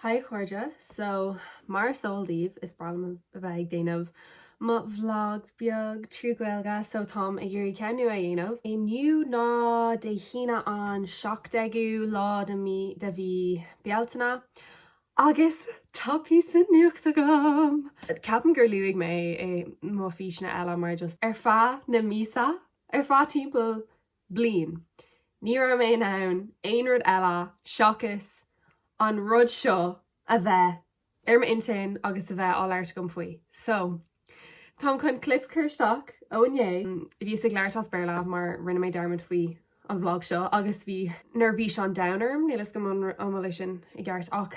Haigh chairde, so mar is eol daoibh is breá liom a bheith ag déanamh mo vlogs beag trí Ghaeilge so táim ag iarraidh ceann nua a dhéanamh. Inniu ná Dé hAoine an 17ú lá de mí de mhí Bealtaine agus tá píosa nuacht agam! Ceapaim gur luaigh mé é i mo físeanna eile mar just ar feadh na míosa ar feadh timpeall bliain. Ní raibh mé in ann aon rud eile seachas an rud seo a bheith ar m'intinn agus a bheith á labhairt agam faoi. So, táim chun clip a chur isteach ó inné. Bhíos ag labhairt as Béarla mar rinne mé dearmad faoi an vlog seo agus bhí neirbhís an domhain orm, níl 'fhios agam an bhfuil sin i gceart ach,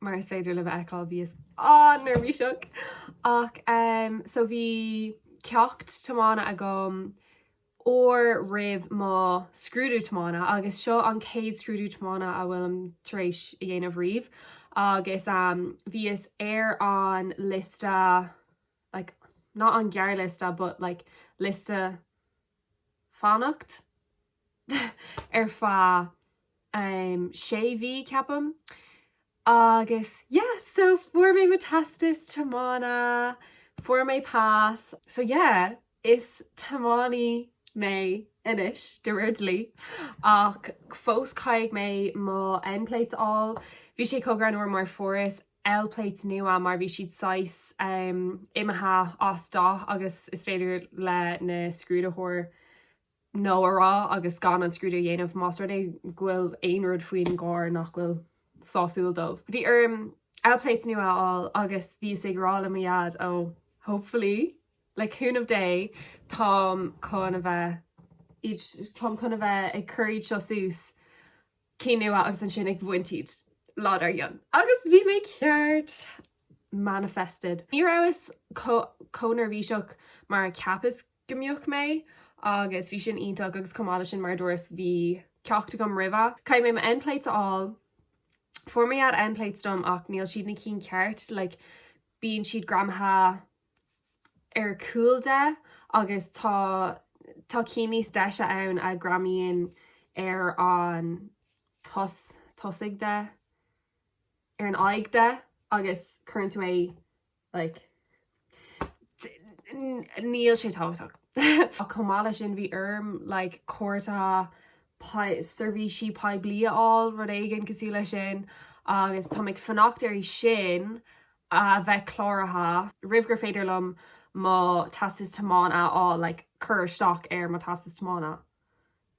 mar is féidir libh a fheiceáil, bhíos an-neirbhíseach! Ach em, so bhí ceacht tiomána agam uair roimh mo scrúdú tiomána agus seo an chéad scrúdú tiomána a bhfuilim tar éis a dhéanamh riamh agus em bhíos ar an liosta like not an ghearrliosta but like liosta fanacht ar feadh ehm sé mhí ceapaim agus yeah so fuair mé mo teastas tiomána fuair mé pas so yeah is tiománaí mé anois de réir dlí ach fós caithfidh mé mo N plates a fháil bhí sé chomh greannmhar mar fuaireas L plates nua mar bhí siad saghas ehm imithe as dath agus is féidir leis an scrúdaitheoir no a rá agus gan an scrúdú a dhéanamh más rud é go bhfuil aon rud faoin gcarr nach bhfuil sásúil dóibh. Bhí orm L plates nua a fháil agus bhíos ag rá le mo Dhaid, ó, hopefully, le cúnamh Dé, táim chun a bheith táim chun a bheith ag cur iad seo suas, cinn nua, agus ansin ag bhaint iad lá dár gcionn. Agus bhí mé ceart! Manifested. Ní rabhas chomh neirbhíseach mar a cheapas go mbeadh mé agus bhí sin iontach agus chomh maith le sin mar a dúras bhí ceacht agam roimhe. Caithfidh mé mo N plates a fháil. Fuair mo Dhaid N plates dom ach níl siad na cinn ceart like bíonn siad greamaithe ar cúl de agus tá tá cinn níos deise ann a greamaíonn ar an tos tosaigh de ar an aghaidh de agus cuireann tú é Like, níl sé tábhachtach. Ach chomh maith leis sin bhí orm like cárta sei, seirbhísí poiblí a fháil, rud éigin cosúil leis sin, agus táim ag fanacht air sin a bheith cláraithe roimh gur féidir liom mo Teastas Tiomána a fháil, like cur isteach ar mo Teastas Tiomána.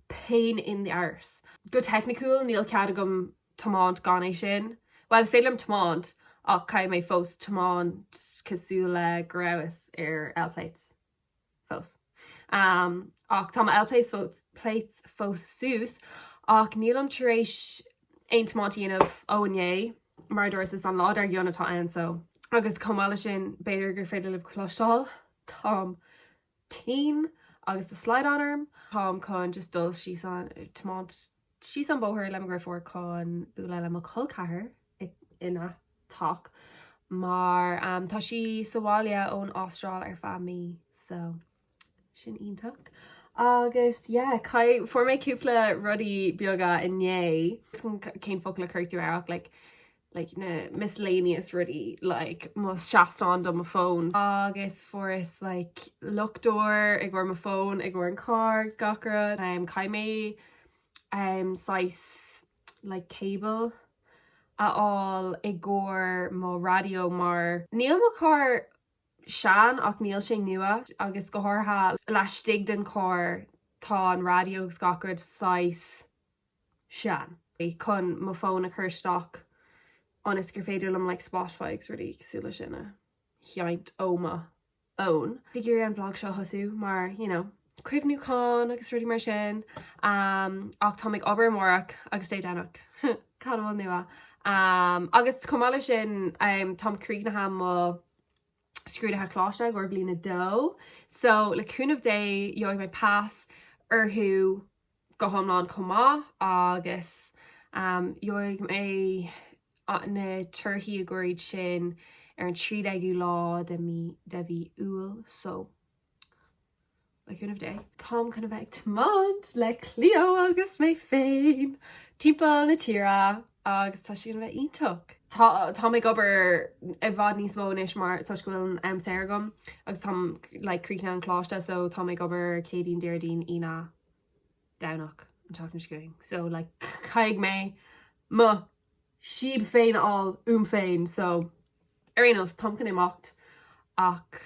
pain in the arse. Go teicniciúil, níl cead agam tiomáint gan é sin. Bhuel, is féidir liom tiomáint, ach caithfidh mé fós tiomáint cosúil le go rabhas ar L-Plates fós. Ach tá mo L-Plates, L-Plates fós suas, ach nílim tar éis aon tiomáint a dhéanamh ó inné, mar a dúras, is an lá dar gcionn atá ann, so. Agus chomh maith le sin, b'fhéidir gur féidir libh cloisteáil, táim tinn agus tá slaghdán orm, táim chun just dul síos an, tiomáint síos an bóthar le mo dhriofúr chun bualadh le mo cholceathair ina teach mar tá sí sa bhaile ón Astráil ar feadh mí so sin iontach agus yeah, cai, fuair mé cúpla rudaí beaga inné, cén focal a chuirfeá tú air ach like, like na miscellaneous rudaí like mo seastán do mo fón agus fuaireas like luchtóir i gcomhair mo fón i gcomhair an carr agus gach rud um caithfidh mé um saghas like cable a fháil i gcomhair mo raidió mar níl mo carr sean ach níl sé nua agus go háirithe laistigh den carr tá an raidió agus gach rud saghas sean. chun mo fón a chur isteach ionas gur féidir liom like Spotify agus rudaí cosúil leis sin a sheint ó mo fhón. Ag iarraidh an vlog seo a thosú mar you know cuimhniúchán agus rudaí mar sin ach táim ag obair amárach agus Dé Domhnaigh cad a bhfuil nua? Agus chomh maith leis sin táim críochnaithe mo scrúduithe coláiste i gcomhair bliain a dó so le cúnamh Dé gheobhaidh mé pas orthu go hiomlán chomh maith agus um, gheobhaidh mé na torthaí i gcomhair iad sin ar an 13ú lá de mhí Iúil so Le cúnamh Dé. Táim chun a bheith ag tiomáint le Cleo agus mé féin timpeall na tíre agus tá sé gonna bheith iontach. Tá táim ag obair i bhfad níos mó anois mar toisc go bhfuil an am saor agam agus táim like críochnaithe an coláiste so táim ag obair Céadaoin, Déardaoin, Aoine, Domhnach an tseachtain seo chugainn so like caithfidh mé mo síob féin a fháil uaim féin so ar aon nós táim chun imeacht ach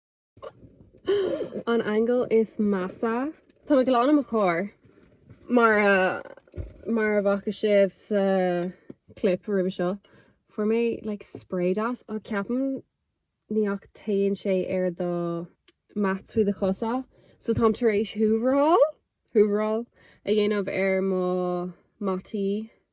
An angle is measa. Tá mé ag glanadh mo charr, mar a mar a bhfaca sibh sa clip roimhe seo. Fuair mé like spray deas a cheapann, ní, ach téann sé ar do mats faoi do chosa so táim tar éis hooveráil hooveráil a dhéanamh ar mo mataí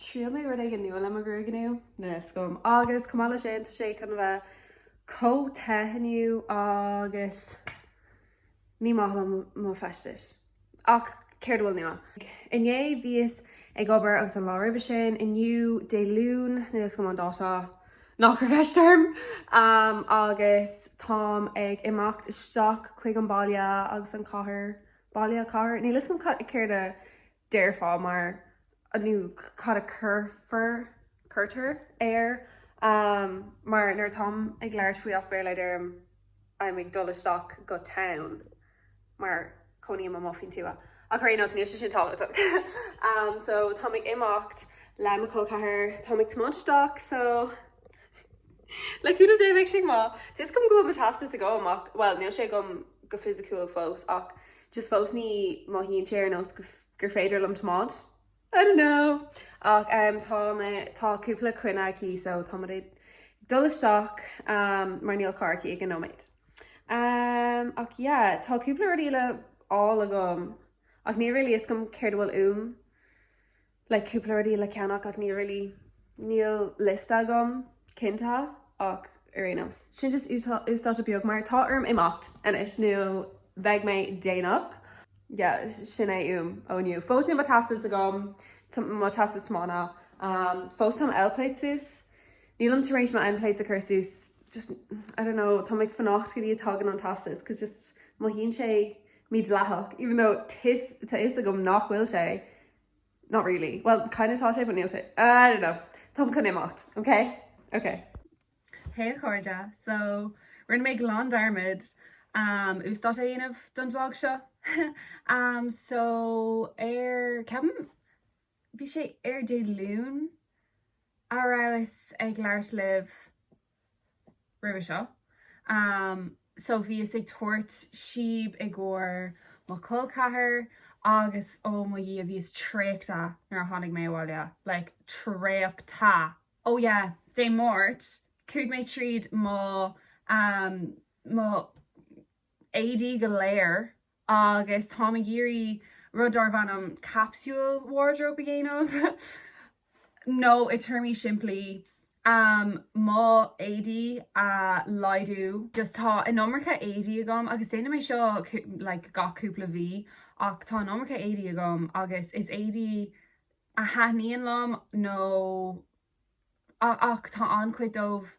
triail mé rud éigin nua le mo ghruaig inniu. níl fhios agam agus chomh maith leis sin tá sé chun a bheith chomh te inniu agus ní maith liom mo feistis ach céard a bhfuil nua? Inné bhíos ag obair agus an lá roimhe sin inniu Dé Luain níl fhios agam an dáta nach cuir ceist orm agus táim ag imeacht isteach chuig an baile agus an cathair baile cathair níl fhios agam céard a déarfá, mar, nó cad a cuirtear air, mar nuair atáim ag labhairt faoi as Béarla deirim I'm ag dul isteach go town mar cónaím amuigh faoin tuath, ach ar aon nós níl sé sin tábhachtach. So táim ag imeacht le mo cholceathair, táim ag tiomáint isteach so le cúnamh Dé beidh sé go maith. Tá fhios agam go bhfuil mo teastas agam ach, bhuel níl sé agam go fisiciúil fós ach, Just fós ní mothaíonn sé ar nós gur féidir liom tiomáint. I don't know! Ach tá, tá cúpla coinne aici so tá muid ag dul isteach mar níl carr aici ag an nóiméad. Ach yeah, tá cúpla rud eile le fáil agam ach níl really fhios agam céard a bhfuil uaim. like cúpla rudaí le ceannach ach níl really, níl liosta agam cinnte ach ar aon nós, sin just uasdátú beag mar tá orm imeacht anois nó bheidh mé déanach yeah, sin é uaim ó inniu. Fós níl mo teastas agam, mo teastas tiomána, fós táim L-plate suas, nílim tar éis mo L-plate a chur suas, just, I don't know, táim ag fanacht go dtí a tagann an teastas cos just mothaíonn sé mídhleathach, even though tá fhios agam nach bhfuil sé, Not really. Bhuel, kind of tá sé but níl sé. I don't know. Táim chun imeacht. Ok? Ok. Hey a chairde, so rinne mé glan dearmad uasdátú a dhéanamh don vlog seo so ar ceapaim bhí sé ar Dé Luain a rabhas ag labhairt libh roimhe seo so bhíos ag tabhairt síob i gcomhair mo chol ceathrair agus oh mo dhia bhíos traochta nuair a tháinig mé abhaile like traochta oh yeah dé máirt chuaigh mé tríd mo um mo éadaí go léir agus táim ag iarraidh rud darbh ainm capsule wardrobe a dhéanamh nó i téarmaí simplí mo éadaí a laghdú just tá an iomarca éadaí agam agus déanaim é seo like gach cúpla mhí ach tá an iomarca éadaí agam agus is éadaí a thaitníonn liom nó ach tá an-chuid dóibh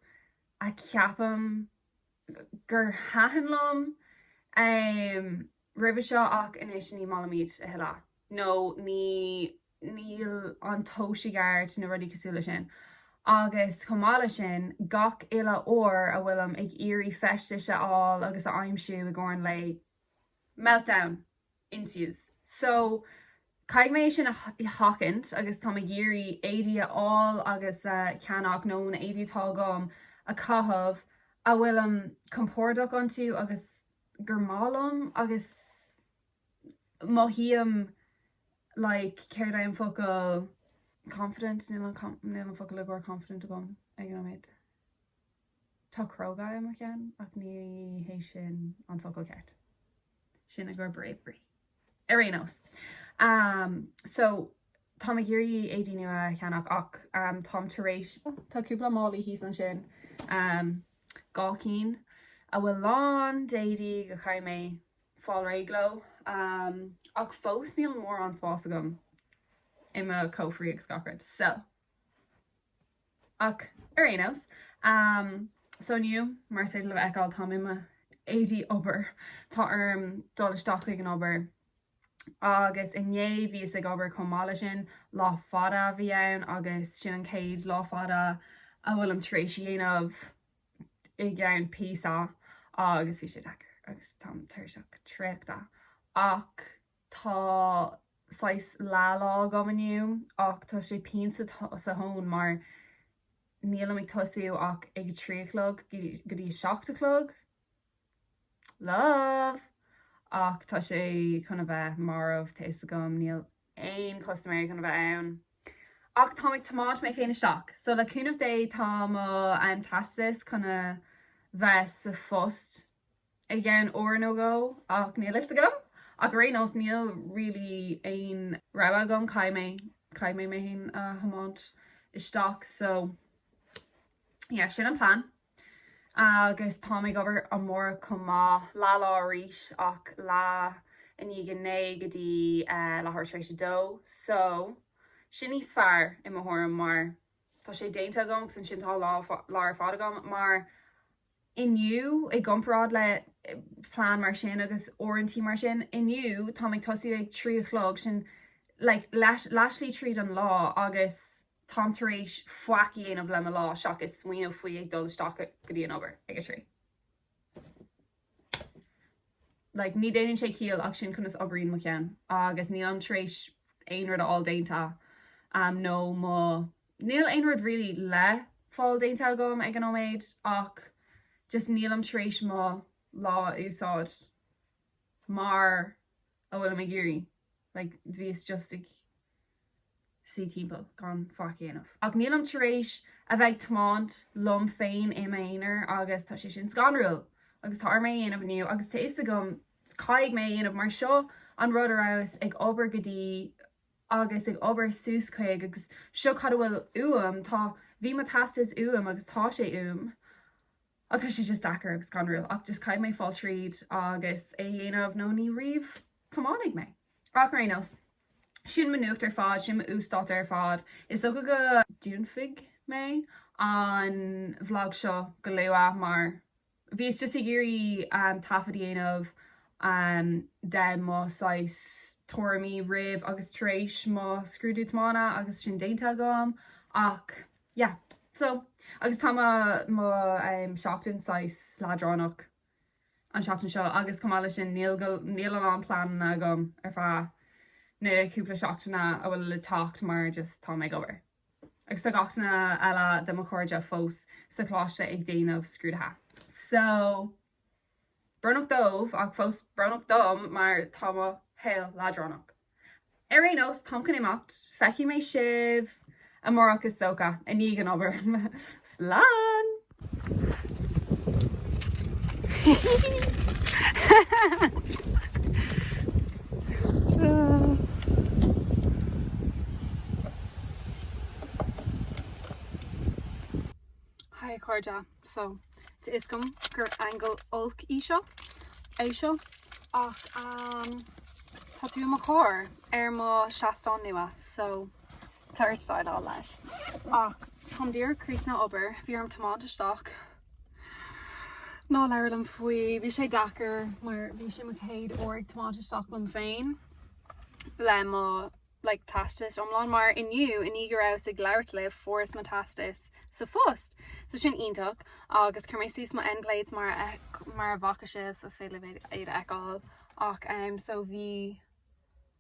a ceapaim gur thaitin liom roimhe seo ach anois ní mothaím iad a thuilleadh nó ní níl an tomhas ceart nó rudaí cosúil le sin. Agus chomh maith le sin, gach uile uair a bhfuilim ag iarraidh feistis a fháil agus a aimsiú i gcomhair an lae, meltdown! in tús. So, caithfidh mé é sin a sheachaint agus táim ag iarraidh éadaí a fháil agus a cheannach, nó na éadaí atá agam a chaitheamh, a bhfuilim compordach iontu agus gur maith liom agus mothaím like, céard é an focal, confident, níl an focal i gcomhair confident agam ag an nóiméad. Tá cróga i mo cheann, ach ní hé sin an focal ceart. Sin i gcomhair bravery. Ar aon nós, so, táim ag iarraidh éadaí nua a cheannach ach táim tar éis, tá cúpla málaí thíos ansin, dhá cinn, a bhfuil lán d'éadaí go chaithfidh mé fáil réidh leo. Ach fós níl mórán spáis agam i mo chófraí agus gach rud. So. Ach ar aon nós, so inniu, mar is féidir libh a fheiceáil, táim i mo éadaí obair, tá orm dul isteach chuig an obair. Agus inné, bhíos ag obair chomh maith le sin, lá fada a bhí ann agus sin an chéad lá fada a bhfuilim tar éis a dhéanamh i gceann píosa agus bhí sé deacair agus táim tuirseach traochta ach, tá saghas leathlá agam inniu ach tá sé pian sa thón mar nílim ag tosú ach ag a trí a chlog go dtí a seacht a chlog love ach tá sé chun a bheith marbh tá fhios agam níl aon chustaiméirí chun a bheith ann ach táim ag tiomáint mé féin isteach so le cúnamh Dé tá an teastas chun a bheith sa phost. i gceann uair nó dhó ach níl fhios agam ach ar aon nós níl really aon rogha agam caithfidh mé caithfidh mé mé féin a thiomáint isteach so yeah sin an plean agus táim ag obair amárach chomh maith leath lá arís ach leath i ndiaidh a naoi go dtí leathuair tar éis a dó so sin níos fearr i mo thuairim mar tá sé déanta agam agus ansin tá an lá ar fad agam mar inniu, i gcomparáid le plean mar sin agus uaireantaí mar sin, inniu táim ag tosú ag trí a chlog, sin like leathshlí tríd an lá agus táim tar éis faic a dhéanamh le mo lá seachas smaoineamh faoi ag dul isteach go dtí an obair ag a trí. like ní déanann sé ciall ach sin conas oibríonn mo cheann agus nílim tar éis aon rud a fháil déanta, am nó mo. Níl aon rud really le fáil déanta agam ag an nóiméad ach just nílim tar éis mo lá a úsáid mar a bhfuilim ag iarraidh, like bhíos just ag suí timpeall gan faic a dhéanamh. Ach nílim tar éis a bheith ag tiomáint liom féin i m'aonar agus tá sé sin scanrúil. Agus tá orm é a dhéanamh inniu agus tá 'fhios agam caithfidh mé a dhéanamh mar seo an rud a rabhas ag obair go dtí agus ag obair suas chuig agus seo cad a bhfuil uaim, tá, bhí mo teastas uaim agus tá sé uaim ach tá sé just deacair agus scanrúil ach just caithfidh mé fáil tríd agus é a dhéanamh nó ní riamh tiomáinfidh mé. Ach ar aon nós, sin mo nuacht ar fad, sin mo uasdátú ar fad. Is dócha go ndúnfaidh mé an vlag seo go luath mar Bhíos just ag iarraidh taifead a dhéanamh de mo saghas tuairimí roimh agus tar éis mo scrúdú tiomána agus sin déanta agam ach yeah so agus tá mo mo seachtain saghas leadránach an seachtain seo agus chomh maith le sin níl a lán pleananna agam ar feadh na cúpla seachtaine a bhfuil le teacht mar just táim ag obair. agus tá gach duine eile de mo chairde fós sa choláiste ag déanamh scrúdaithe. So, brónach dóibh, ach fós brónach dom mar tá mo shaol leadránach. Ar aon nós, táim chun imeacht, feicfidh mé sibh amárach is dócha, i ndiaidh an obair. Slán! Hi cairde, so tá a fhios agam gur angle olc í seo, é seo, ach tá tú i mo charr ar mo seastán nua so Tá ort déileáil leis. Ach táim díreach críochnaithe obair, bhí orm tiomáint isteach ná labhair liom faoi, bhí sé deacair mar bhí sé mo chéad uair ag tiomáint isteach liom féin le mo like teastas iomlán mar inniu i ndiaidh go rabhas ag labhairt libh fuaireas mo teastas sa phost so sin iontach agus chuir mé suas mo N plates mar a bhfaca sibh so is féidir libh iad a fheiceáil ach so bhí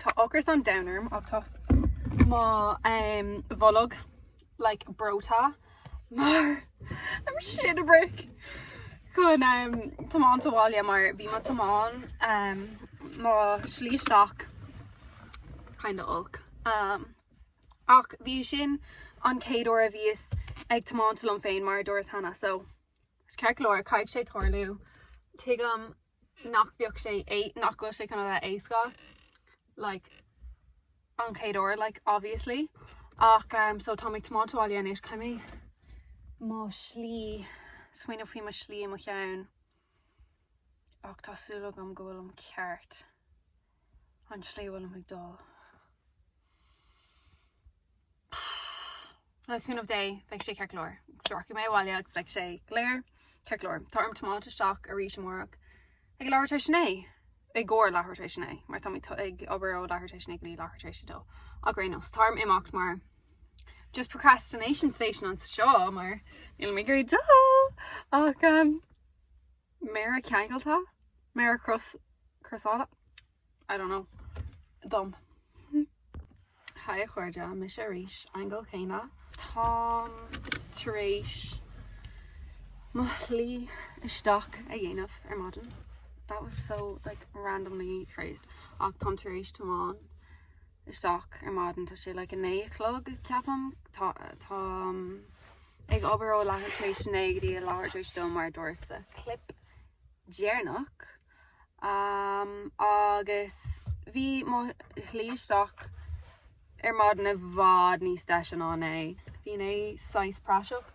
Tá ocras an domhain orm ach tá mo bholg like breoite mar I'm shitting a brick chun tiomáint abhaile mar bhí mo tiomáint mo slí isteach kind of olc ach bhí sin an chéad uair a bhíos ag tiomáint liom féin mar a dúras cheana so tá sé ceart go leor caithfidh sé tarlú tuigim nach bheadh sé é- nach bhfuil sé chun a bheith éasca like an chéad uair like obviously ach umm so táim ag tiomáint abhaile anois caithfidh mé mo slí smaoineamh faoi mo slí i mo cheann ach tá súil agam go bhfuilim ceart. an tslí a bhfuilim ag dul. Le cúnamh Dé, beidh sé ceart go leor. Sroichfidh mé abhaile agus beidh sé go léir ceart go leor. Tá orm tiomáint isteach arís amárach ag leathuair tar éis a naoi, i gcomhair leathuair tar éis a naoi, mar tá mé ag obair ó leathuair tar éis a naoi go dtí leathuair tar éis a dó. Ach ar aon nós, tá orm imeacht mar just procrastination station anseo mar níl mé ag iarraidh dul! Ach Méara ceangailte? Méara crosáilte? I don't know. Dom. Haigh a chairde, mise arís, angle céanna. Táim tar éis mo shlí isteach a dhéanamh ar maidin. That was so like randomly phrased. Ach táim tar éis tiomáint isteach ar maidin, tá sé like a naoi a chlog ceapaim. Táim... ag obair ó leathuair tar éis a naoi go dtí a leathuair tar éis a dó mar a dúirt sa chlip dheireanach agus bhí mo shlí isteach ar maidin i bhfad níos deise ná inné. Bhí inné saghas praiseach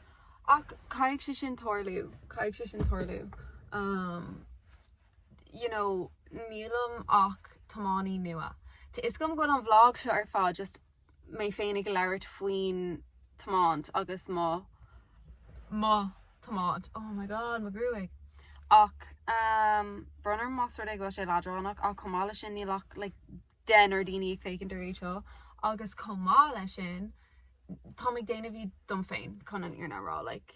ach caithfidh sé sin tarlú, caithfidh sé sin tarlú. You know, nílim ach tiománaí nua. Tá a fhios agam go bhfuil an vlog seo ar fad just mé féin ag labhairt faoin tiomáint agus mo. mo thiomáint. Oh my God, mo ghruaig! Ach ehm, brón orm más rud é go bhfuil sé leadránach ach chomh maith leis sin níl ach like deichniúr daoine ag féachaint ar iad seo agus chomh maith leis sin táim ag déanamh iad dom féin chun an fhírinne a rá like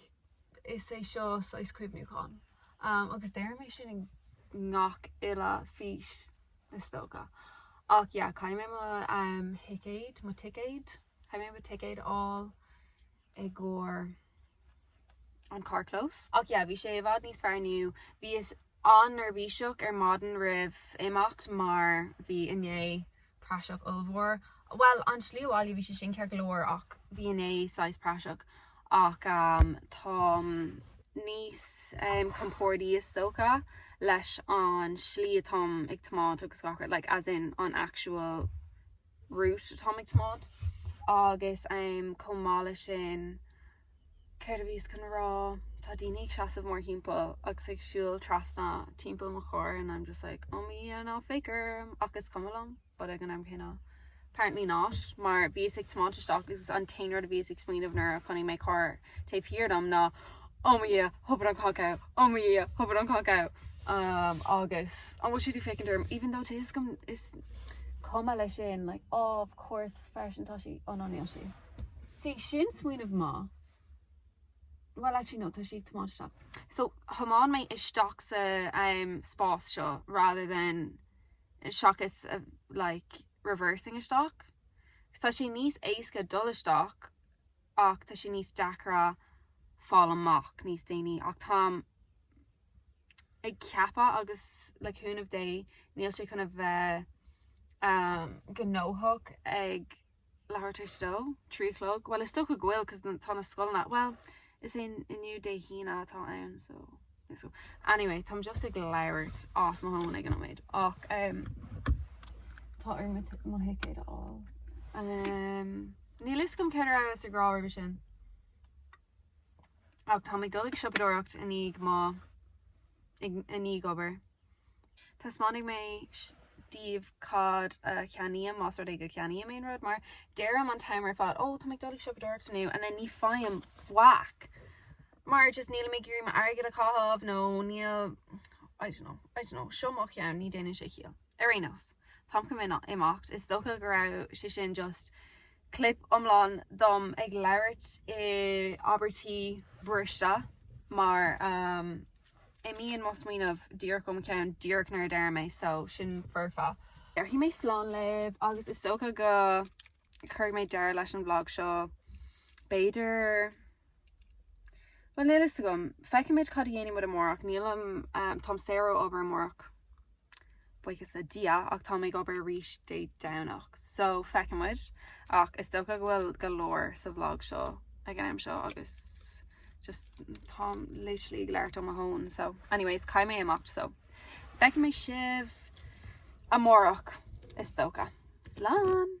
is é seo saghas cuimhniúchán. Ehm, agus deirim é sin i ngach uile fís. is dócha. Ach yeah, caithfidh mé mo thicéad, mo ticéad, caithfidh mé mo ticéad a fháil i gcomhair an carrchlós. Ach yeah, bhí sé i bhfad níos fearr inniu. Bhíos an-neirbhíseach ar maidin roimh imeacht mar bhí inné praiseach ollmhór. Bhuel, an tslí abhaile bhí sé sin ceart go leor ach bhí inné saghas praiseach. ach táim níos compordaí is dócha leis an slí atáim ag tiomáint agus gach rud, like as in an actual route atáim ag tiomáint agus chomh maith leis sin céard a bhíos chun rá, tá daoine ag seasamh mór thimpeall agus ag siúl trasna timpeall mo charr and I'm just like, oh my, ná féach orm ach is cuma liom. but ag an am céanna apparently not, mar bhíos ag tiomáint isteach agus an t-aon rud a bhíos ag smaoineamh nuair a chonaic mé carr taobh thiar dom ná Oh my Dhia, thógair an cac out! Oh my Dhia, thógair an cac out! Um agus an bhfuil siad ag féachaint orm even though is com- is cuma leis sin like oh of course freisin tá sí, oh no níl sí. See, sin smaoineamh maith. Well actually no tá sí ag tiomáint isteach. So thiomáin mé isteach sa umm spás seo rather than... seachas like reversing isteach. Agus tá sé níos éasca dul isteach ach tá sé níos deacra fáil amach níos déanaí ach táim ag ceapadh agus le cúnamh Dé níl sé chun a bheith gnóthach ag leathuair tar éis a dó? Trí a chlog? Bhuel, is dócha go bhfuil 'cause tá na scoileanna, bhuel, is é inniu Dé hAoine atá ann so anyway, táim just ag labhairt as mo thóin ag an nóiméad ach ehm tá orm mo thicéad a fháil. Ehm níl 'fhios agam céard a rabhas ag rá roimhe sin. Ach táim ag dul ag siopadóireacht i ndiaidh mo i ndiaidh obair. Taispeánfaidh mé daoibh cad a cheannaím, más rud é go gceannaím aon rud, mar deirim an t-am ar fad, 'Ó, tá mé ag dul ag siopadóireacht inniu, and then ní faighim faic, mar just nílim ag iarraidh m'airgead a chaitheamh, nó níl, I don't know, I don't know, seo mo cheann, ní déanann sé ciall. Ar aon nós, táim chun imeacht, is dócha go raibh sé sin just clip iomlán dom ag labhairt i abairtí briste, mar Imíonn mo smaoineamh díreach ó mo cheann díreach nuair a deirim é so sin foirfe. Déarfaidh mé slán libh agus is dócha go chuirfidh mé deireadh leis an vlog seo b'fhéidir bhuel níl a fhios agam, feicfimid cad a dhéanfaidh muid amárach, nílim, táim saor ó obair amárach. buíochas le Dia, ach táim ag obair arís Dé Domhnach so feicfidh muid ach is dócha go bhfuil go leor sa vlog seo ag an am seo agus just táim literally ag labhairt ó mo thóin so anyways caithfidh mé imeacht so feicfidh mé sibh amárach is dócha. Slán!